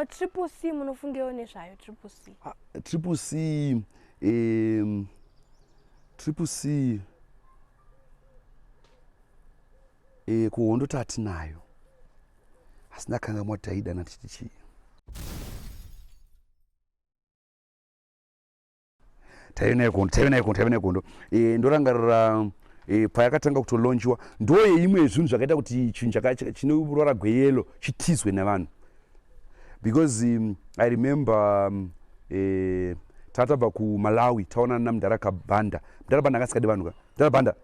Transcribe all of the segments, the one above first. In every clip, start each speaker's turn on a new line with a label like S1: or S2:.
S1: triple c munofungewo nezvayo triple c ah, triple c um,
S2: triple c e, kuhondo tatinayo asi ndakangamwa taidana tichichii taive nayo kondo taive nayo kondo taive nayo kondo e, ndorangarira e, payakatanga kutolonjiwa ndo yeimwe yezvinhu zvakaita kuti chinhu chine ruvara gweyelo chitizwe nevanhu because um, i remember um, e, tatabva kumalawi taonana namdara kabanda mdara banda akasikadi vanhu ka mdara banda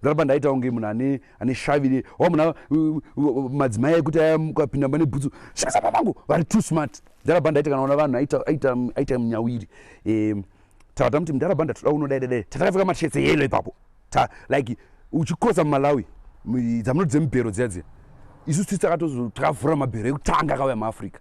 S2: mdara banda aitawo nge munhu ane ane shavire wa munhu madzimai ekuti ayamukapinda mane bhutsu shasa pamangu vari too smart mdara banda aiti kana ona vanhu aita munyawiri um, tava tamuti mdara banda toda unodaidadai tatakapfeka mashetse yelo ipapo like uchikrosa mumalawi dzamuno dzemubhero dziya dziya isu sisi takatozo takavhura mabhero ekutanga akauya muafrica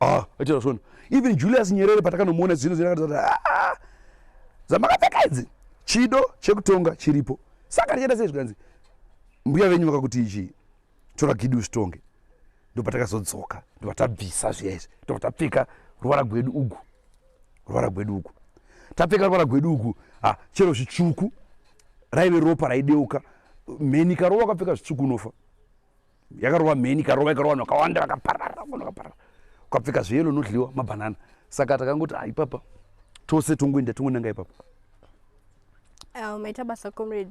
S2: ah aitaura svondo even julius nyerere patakanomuona zino zinakatizati ah, ah, ah. zvamakapfeka idzi chido chekutonga chiripo saka tichaita sei zvikanzi mbuya venyu vakakuti ichii tora gidi usitonge ndopatakazodzoka ndopatabvisa zviya izvi ndopatabvika ruvara gwedu ugu ruvara gwedu ugu tapfeka ruvara gwedu ugu ha chero zvitsvuku raive ropa raideuka mheni karova kapfeka zvitsvuku unofa yakarova mheni ikarova ikarova vanhu vakawanda vakaparara vanhu vakaparara ukapfeka zveyelo unodliwa mabhanana saka takangoti ah, ipapa tose tongoenda tongonanga
S1: ipapa
S2: ah, maita
S1: basa
S2: comrade